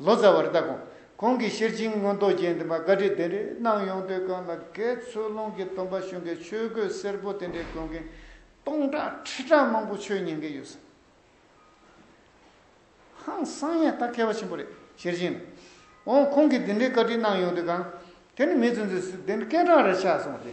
ལོ་ཙཱ་བར་བཏགས་གོང་གོང་གི་ཤེར་ཕྱིན་མངོན་རྟོགས་རྒྱན་དེ་མ་བཀའ་ཁྲིད་དེ་འདྲས་གནང་ཡོང་དུས་གང་ལ་གས་ཚོད་ལོང་གི་སྟོན་པ་གཞུང་གི་ཆོས་གོས་སེར་པོ་དེ་འདྲས་གོན་གིན་སྟོང་ཕྲག་ཁྲི་ཕྲག་མང་པོ་ཆོས་ཉན་གིན་ཡོད་ས་ཧང་སང་ཡང་ད་གས་པ་ཆེན་པོ་རེད་ཤེར་ཕྱིན་ལ་འོང་གོང་གི་དེ་འདྲས་བཀའ་ཁྲིད་གནང་ཡོང་དུས་གང་དེ་ནི་མི་ཚོས་འདི་སུ་དེ་འདྲས་སྐད་གྲགས་རེ་ཆགས་སོང་སྟེ།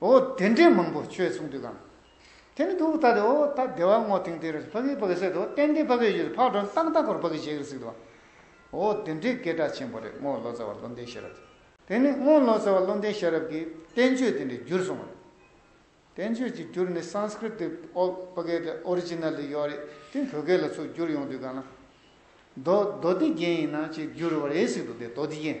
འོ་དེ་འདྲའི་མང་པོ་ཁྱོད་མཚུངས་འདུག་གམ། དེ་ནི་འདུག་ད་དེ་འོ་ད་དེ་བ་སྔོ་ཐིང་ཐིང་རེད་ཕ་གིའི་ཕ་གི་སྲས་དེ་འོ་གཏན་འདི་ཕ་གི་ཡུལ་ཕག་སྒྲོན་ཏག་ཏག་གོར་ཕ་གི་བྱེད་གི་ཟིག་དུ་བ། འོ་དེ་འདྲའི་སྐད་གྲགས་ཆེན་པོ་རེད་སྔོ་ལོ་ཙཱ་བ་བློ་ལྡན་ཤེས་རབ་ཀྱིས། དེ་ནི་སྔོ་ལོ་ཙཱ་བ་བློ་ལྡན་ཤེས་རབ་ཀྱིས་བསྟན་བཅོས་དེ་འདྲའི་བསྒྱུར་སོང་བ་རེད། བསྟན་བཅོས་ཀྱི་བསྒྱུར་ནི Sanskrit དེ་ཕ་གིའི་དེ Original དེ་ཡོད་རེད་དེ་བོད་སྐད་ལ་ཚུར་བསྒྱུར་ཡོང་དུས་གང་ན། མདོ་མདོ་སྡེ་རྒྱན་ཡིན་ན་ཅིག་བསྒྱུར་བ་རེད་ཟིག་འདུག་དེ་མདོ་སྡེ་རྒྱན།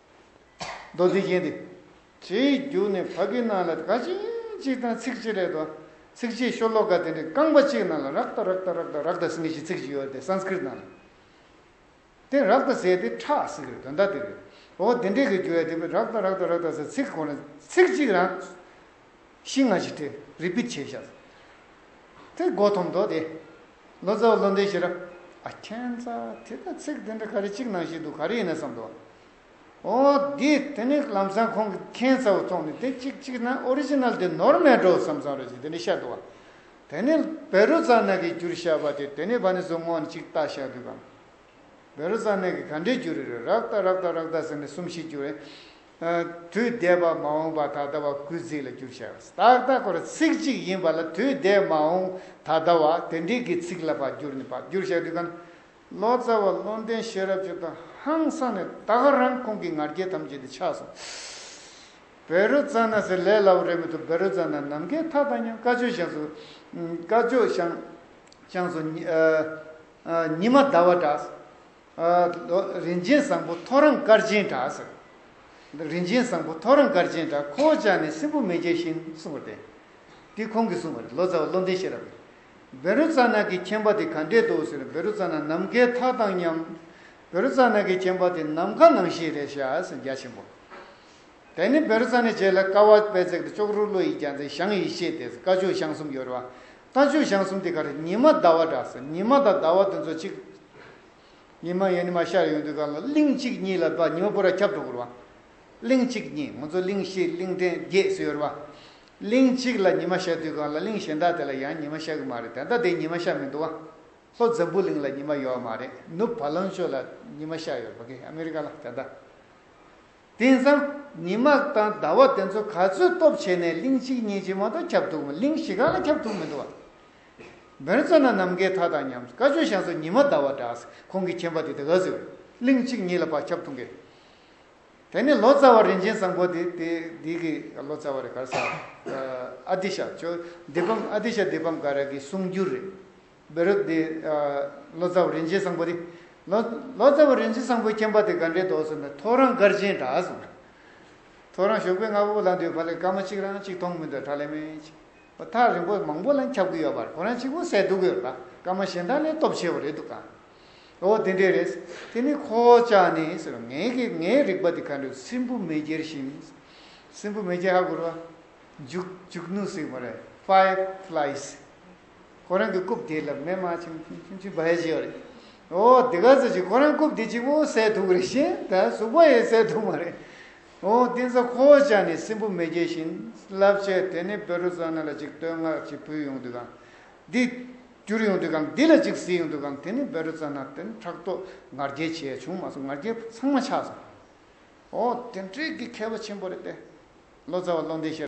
མདོ་འདི་བཞིན་ཏེ། དེའི་རྒྱུ་ནི་བ་གི་ནང་ལ་དགའ་ཞིང་གཅིག་དང་ཚིག་གཅིག་རེད་དོ། ཚིག་གཅིག་ཤོ་ལོ་ཀ་དེ་འདྲའི་རྐང་པ་གཅིག་ནང་ལ་རཀྟ་རཀྟ་རཀྟ་རཀྟ་སིང་གི་ཞེས་ཚིག་གཅིག་ཡོད་དེ Sanskrit ནང་ལ་དེ་རཀྟ་ཟེར་ཏེ་ཁྲག་སིང་གི་དོན་དག་དེ་རེད། འོ་དེ་འདྲའི་གི་རྒྱུ་ཡ་དེ་བས་རཀྟ་རཀྟ་རཀྟ་ཟེར་ཚིག་གོང་ནས་ཚིག་གཅིག་རང་ཤི་ང་ཞིག་དེ་རི་པིར་བྱས་བཞག། དེ་སྒོ་ཐོམ་མདོ་སྟེ། ལོ་ཙཱ་བ་ལོ་འདས་ཤི་རབས། ཨ་མཁྱེན་རྩ་དེ་ལྟར་ཚིག་དེ་འདྲ་ག་རེ་གཅིག་ནང་བཞིན་འདུག་ག་རེ་ཡིན་ན་བསམ་དོ། ཨོ། འདི་དེ་ནི་ལམ་སང་ཁོང་གིས་མཁྱེན་རྩ་བ་བཙོང་ནས་དེ་གཅིག་གཅིག་ན Original དེ་ནོར་མེད་འགྲོ་བསམ་བསམ་རེ་བྱས་དེ་འདྲ་བཤད་འདུག་བ། དེ་ནི་བེ་རུ་ཙཱ་ནག་གི་བསྒྱུར་བཤད་པ་དེ་དེ་ནི་བ་ནི་སོ་སྔོ་ནས་གཅིག་བཏགས་བཤད་འདུག་གམ། བེ་རུ་ཙཱ་ནག་གིས་ག་འདྲའི་བསྒྱུར་རེད་རེད་རག་ལྟ་རག་ལྟ་རག་ལྟ་ཟེར་ནས་གསུམ་བཞི་བསྒྱུར་བས། དུས་འདས་པ་མ་འོངས་པ་ད་ལྟ་བ་ཀུན་གཟིགས་ལ་འགྱུར་བྱ་བ་སྟག་སྟག་གོ་ར་ཚིག་གཅིག་ཡིན་པ་ལ་དུས་འདས་མ་འོངས་ད་ལྟ་བ་དེ་འདྲིལ་གྱི་ཚིག་ལ་བར་འགྱུར་ནི་བར་འགྱུར་བྱ་དུས་གང། ལོ་ཙཱ་བ་བློ་ལྡན་ཤེས་རབ་ཆོས་དང་ཧང་སངས་ནས་ད་ག་རང་ཁོང་གི་ང་རྒྱལ་ཐམས་ཅད་དེ་ཆགས་སོང། བེ་རོ་ཙཱ་ན་ཟེར་ལས་སླ་བོ་རེད་མི་འདུག་བེ་རོ་ཙཱ་ན་ནམ་མཁའི་མཐའ་དང་མཉམ་དཀར་ཕྱོགས་ཤངས་སུ། དཀར་ཕྱོགས་ཤངས་སུ། ཉི་མ་ཟླ་བ་འདྲ། རིན་ཆེན་བཟང་པོ་ཐོ་རངས་སྐར་ཆེན་འདྲ། རིན་ཆེན་བཟང་པོ་ཐོ་རངས་སྐར་ཆེན་འདྲ་ཁོ་བོ་ཅག་ནི་སྲིན་བུ་མེ་ལྕེ་བཞིན་གསུངས་པར་བརྟེན། འདི་ཁོང་གིས་གསུངས་པ་རེད་ལོ་ཙཱ་བ་བློ་ལྡན་ཤེས་རབ་ཀྱིས། བེ་རུ་ཙཱ་ནག་གི་ཁྱིམ་པ་དེ་ག་འདྲའི་དུ་ཟེར་བེ་རུ་ཙཱ་ནག་ནམ་མཁའི་མཐའ་དང་མཉམ། བེ་རུ་ཙཱ་ནག་གི་ཁྱིམ་པ་དེ་ནམ་མཁའ་ནང་བཞིན་རེད་ཤག་ཟེར་རྒྱ་ཆེན་པོ། དེ་ནི་བེ་རུ་ཙཱ་ནས་བྱས་ལ་ཀ་བ་པད་བརྩེགས་དང་ཅོག་རོ་ཀླུ་ཡིས་རྒྱ་མཚན་ཞང་ཡིས་ཤེས་དེ་ཟེར་ཀ་ཅོག་ཞང་གསུམ་ཡོད་རེད་བ། ལྟ་སྤྱོད་བྱང་གསུམ་དེ་ག་རེ་ཉི་མ་ཟླ་བ་འདྲ་ཟེར་ཉི་མ་དང་ཟླ་བ་དེ་ཚོ་གཅིག་ཉི་མ་ཡན་ནི་མ་ཤར་ཡོང་དུས་གང་ལ་གླིང་གཅིག་གཉིས་ལ་བ་ཉི་མ་པོ་ར་ཁྱབ་འགྲོ་གུར་བ། གླིང་གཅིག་གཉིས་ང་ཚོ་གླིང་བཞི་གླིང་ཕྲན་བརྒྱད་སུ་ཡོད་ར་བ། གླིང་གཅིག་ལ་ཉི་མ་ཤར་དུས་གང་ལ་གླིང་གཞན་དག་དེ་ལ་ཡང་ཉི་མ་ཤར་གི་མ་རེད་དེ་ཟླ་དེ་ཉི་མ་ཤར་མི་འདུག་བ། ལྷོ་འཛམ་བུ་གླིང་ལ་ཉི་མ་ཡོད་བ་མ་རེད་ནུབ་བ་ལང་ཆོས་ལ་ཉི་མ་ཤར་ཡོད་ར་བ་གི་ཨ་མི་རི་ཀ་ལ་དེ་ཟླ་དེང་སང་ཉི་མ་དང་ཟླ་བ་དེ་ཚོ་ག་ཚོད་སྟོབས་ཆེ་ནས་གླིང་གཅིག་གཉིས་གཅིག་མ་གཏོགས་ཁྱབ་འདུག་གླིང་བཞི་གང་ལ་ཁྱབ་ཐུབ་མི་འདུག་བ། བོན་བཙོན་ན་ནམ་མཁའི་མཐའ་དང་མཉམ། བཀའ་ཆོས་ཞང་སོགས་ཉི་མ་ཟླ་བ་འདྲ། ཁོང་གི་མཁྱེན་པ་དེ་དགའ་བསུ། གླིང་གཅིག་གཉིས་ལ་བག་ཁྱབ་ཐུབ་མཁན། དེ་ནི་ལོ་ཙཱ་བ་རིན་ཆེན་བཟང་པོ་དེ་དེའི་གི་ལོ་ཙཱ་བ་རེད་གར་ས་ཨ་ཏི་ཤ་ཆོས་སྡེ་ཕམ་ཨ་ཏི་ཤ་སྡེ་ཕམ་ཀ་ར་གི་གསུང་བསྒྱུར་རེད། བེ་རི་དེ། ལོ་ཙཱ་བ་རིན་ཆེན་བཟང་པོ་དེ། ལོ། ལོ་ཙཱ་བ་རིན་ཆེན་བཟང་པོའི་སྐྱེ་འབའ་དེ་དགའ་འདྲའི་དོགས་སུ་མེད་ཐོ་རངས་དཀར་ཆེན་འདྲ་གསུངས། ཐོ་རངས་ཞོགས་པའི་རྔ་བོ་ལ་འདུས་བ་ལས་སྐར་མ་གཅིག་རང་གཅིག་མཐོང་མི་འདོད་གྲ་ལེ་མེད་ཅིག། བ་ཐག་རིང་པོ་མང་པོ་ལ་ཁྱབ་གི་ཡོད་པར་ཁོ་རང་གཅིག་པུ་གསལ་འདུག་གི་ལ་སྐར་མ་གཞན་དག་ལས་སྟོབས་ཆེ་བ་རེད་འདུག་ག། འོ་དེ་འདྲས་རེད། དེ་ནི་ཁོ་བོ་ཅག་ནི་ཟེར་བ་ངའི་གི་ངའི་རིག་པ་དེ་ག་འདྲས་སྲིན་བུ་མེ་སྐྱེར་བཞིན། སྲིན་བུ་མེ་སྐྱེར་ཧ་གོ་རུ་བ། འཇུག་འཇུག་ནུས་སྲིན་བུ་རེད five flies། ཁོ་རང་གི་རྐུབ་སྟེགས་ལ་མེ་མ་ཆིམ་ཆིམ་ཆིམ་བར་བྱེད་པ་རེད། ཨོ་དེ་ག་ཟེར་བྱས་ཁོ་རང་རྐུབ་སྟེགས་གཅིག་པོ་བསད་ཐུབ་ཀི་རེད་བྱས་ད་གཟུགས་པོ་ཡང་བསད་ཐུབ་མ་རེད། ཨོ་བསྟན་ས་ཁོ་བོ་ཅག་ནི་སྲིན་བུ་མེ་རྒྱལ་བཞིན་རླབས་ཆེ་དེ་ནི་པེ་རུ་ཙོ་ན་ལ་ཅིག་བསྟོད་བསྔགས་ཅིག་ཕུལ་ཡོང་དུས་གང། འདི། བསྐྱུར་ཡོང་དུས་གང་འདི་ལ་ཅིག་གཟིགས་ཡོང་དུས་གང་དེ་ནི་པེ་རུ་ཙོ་ན་དེ་ནི་ཕྲག་དོག་ངར་སྐྱེལ་བྱས་བྱུང་མ་སོང་ངར་སྐྱེལ་ཚང་མ་ཆགས་སོང། ཨོ་དེ་འགྲིག་གི་མཁས་པ་ཆེན་པོ་རེད་བལྟས། ལོ་ཙཱ་བ་བློ་འདས་ཤེས་རབ།